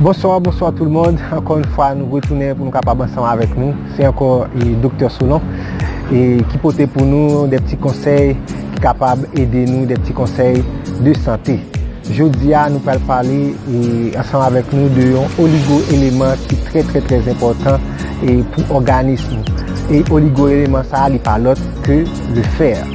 Bonswa bonswa tout mond, ankò yon fwa nou retounen pou nou kapab ansanm avèk nou, se ankò Doktè Solon ki pote pou nou de ti konsèy ki kapab ede nou, de ti konsèy de sante. Jodi a nou pral pale ansanm avèk nou de yon oligo eleman ki trè trè trè enpòtan pou òganis nou. E oligo eleman sa li pa lòt ke le fèr.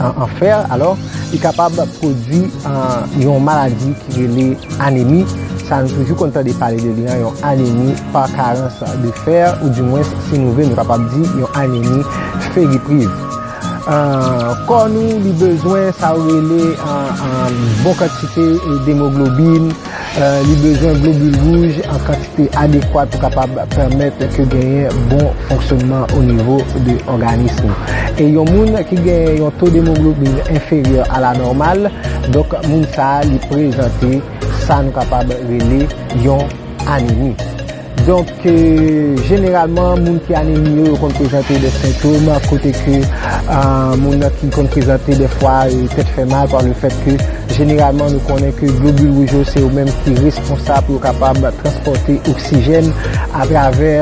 an fer alò li kapab pwodwi yon maladi ki rele anemi sa nou toujou konn tande pale de li an yon anemi pa karans de fer ou di mwens si nou vle nou kapab di yon anemi feripriv kò nou li bezwen sa ou rele bon kantite demoglobin Li bezwen globul wouj an kantite adekwat pou kapab pèmèt ke genyen bon fonksyonman o nivo de òganism ou. E yon moun ki genyen yon to demoglobin enferyè a la nòmal, donk moun sa a li prezante sa nou kapab rele yon anemi. Donk, jeneralman, moun ki anemi yo, yo konn prezante de sentom, kote ke moun nan ki konn prezante defwa tèt fè mal pa le fèt ke jeneralman nou konnen ke globil wouj yo se yo menm ki responsab pou yo kapab transpòte oksijèn atravè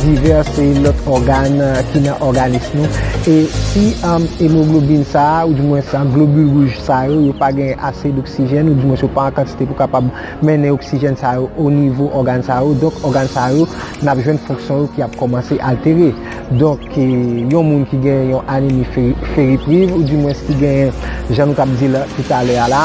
divès lòt ògàn ki nan òganis nou. E si emoglobin sa a, ou di mwens globil wouj sa yo, yo pa gen ase d'oksijèn, ou di mwens yo pa an kantite pou kapab mennen oksijèn sa yo o nivo ògàn sa yo, donk ògàn sa yo n ap jwenn fonksyon yo ki ap kòmanse altere. Donk yon moun ki gen yon anemi feripriv ou dimwens ki gen jan nou t ap di l tou talè a la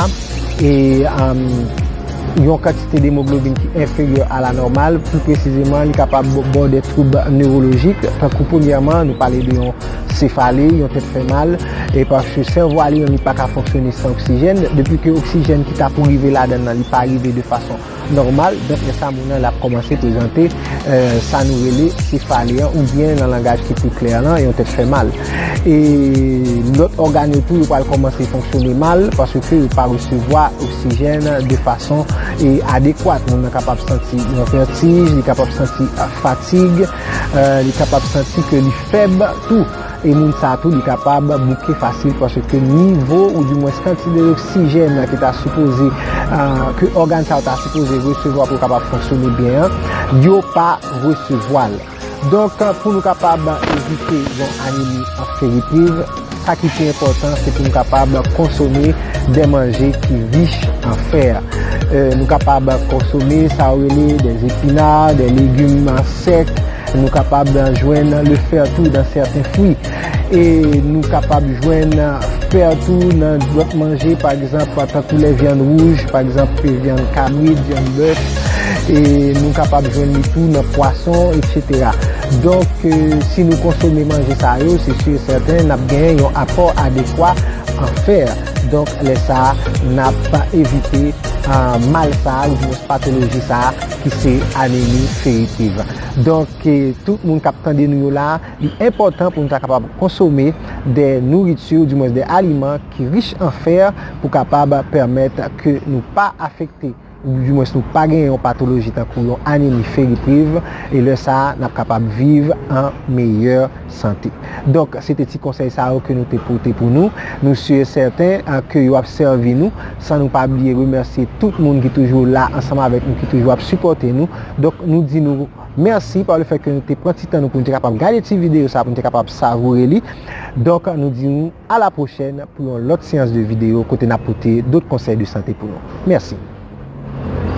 yon kantite demoglobin ki enferyè a la nòmal pi presizeman li kapab bò de twoub newolojik tankou premyèman nou pale de yon Sefale, yon tèt fè mal, e paske sèvo a li menm li pa ka fonksyone san oksijèn, depi ke oksijèn ki ta pou rive ladann nan li pa rive de fason nòmal, donk lè sa moun nan la kòmanse prezante sa nou rele sefale an, oubyen nan langaj ki pi klè lan, yon tèt fè mal. E lòt ògàn yo tou yo pral kòmanse fonksyone mal, paske yo pa resevwa oksijèn de fason adekwat, moun nan kapab santi yon vètij, li kapab santi fatig. Li kapab santi ke li fèb tou. E moun sa tou li kapab bouke fasil paske nivo ou di mwens kantide oksijèn ke ta sipoze, ke ògàn sa yo ta sipoze resevwa pou kapab fonksyone byen an, yo pa resevwa l. Donk pou nou kapab evite yon anemi anferipriv. Sa ki pi enpòtan se pou nou kapab konsome de manje ki rich an fè. Nou kapab konsome sa yo rele de epina, de legim sèk, nou kapab jwenn le fè tou nan sèten fwi. E nou kapab jwenn fè tou nan lòt manje pa egzanp tankou lè vyann wouj, pa egzanp vyann kabrit, vyann bèf, e nou kapab jwenn li tou nan pwason, etsetera. Donk, si nou konsome manje sa yo, se si e sèten n ap genyen yon apò adekwa an fè. Donk, lè sa a, n ap evite mal sa a oubyen patoloji sa a ki se anemi feritiv. Donk, tout moun k ap tande nou yo la a, li enpòtan pou nou ta kapab konsome de nouriti oudimwens de aliman ki rich an fè pou kapab pèmèt ke nou pa afekte. di mwens nou pa gen yon patoloji tankou yon anemi feripriv e lè sa a n ap kapab viv an meyè sante. Donk se te ti konsèy sa yo ke nou te pote pou nou. Nou si e sèten ke yo ap sèvi nou san nou pa bliye remèsye tout moun ki toujou la ansanm avèk nou ki toujou ap sipòte nou. Donk nou di nou mèsi pa le fèt ke nou te pran ti tan nou pou nou te kapab gade ti videyo sa pou nou te kapab savoure li. Donk nou di nou. A la pwochèn pou yon lòt seyans de video kote nap pote dot konsèy de sante pou nou. Mèsi.